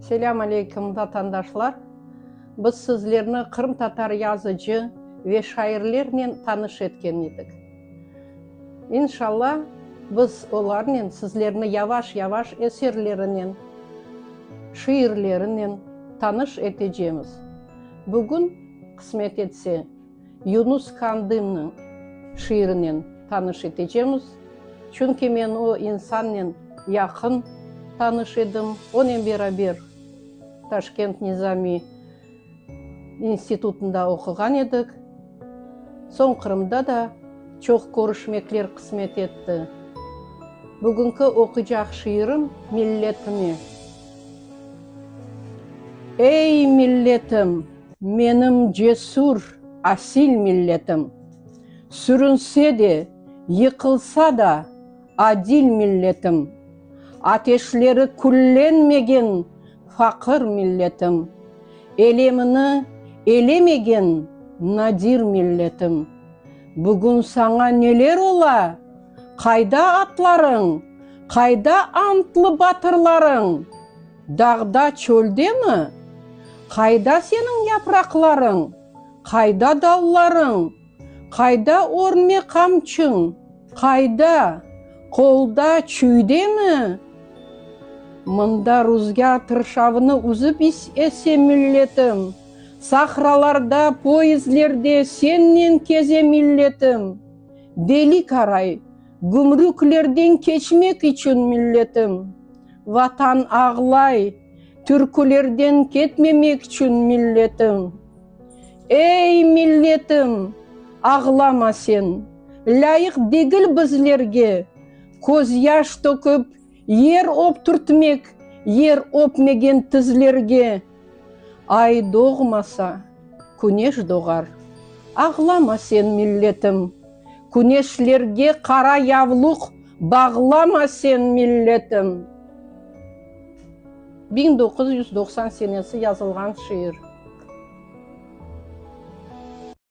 Selâm aleyküm, vatandaşlar! Biz sizlerni qırımtatar yazıcı ve şairlernen tanış etken edik. İnşalla, biz olarnen sizlerni yavaş-yavaş eserlerinen, şiirlerinen tanış etecemiz. Bugün, qısmet etse, Yunus Kandımnıñ şiirinen tanış etecemiz, çünki men o insannen yaqın tanış edim, onen beraber Taşkent Nizamiy institutında oquğan edik, soñ Qırımda da çoq körüşmekler qısmet etti. Bugünki oquycaq şiirim milletime. Ey, milletim! Menim cesür, asil milletim. Sürünse de, yıqılsa da, adil milletim. Ateşleri küllenmegen faqır milletim. Elemini elemegen nadir milletim. Bugün saña neler ola? Qayda atlarıñ? Qayda antlı batırlarıñ? Dağda, çöldemi? Qayda seniñ yapraqlarıñ? Qayda dallarıñ? Qayda örme qamçıñ? Qayda? Qolda, çüydemi? Mında ruzgâr tırşavını üzip ese milletim, Sahralarda, poezdlerde sennen keze milletim, Beli qaray, gümrüklerden keçmek içün milletim. Vatan ağlay, türkülerden ketmemek içün milletim. Ey, milletim, ağlama sen, lâyıq degil bizlerge közyaş töküp, yer öptürtmek, yer öpmegen tizlerge. Ay doğmasa, küneş doğar. Ağlama sen, milletim! Küneşlerge qara yavluq bağlama sen, milletim! Biñ doquz yüz doqsan senesi yazılğan şiir.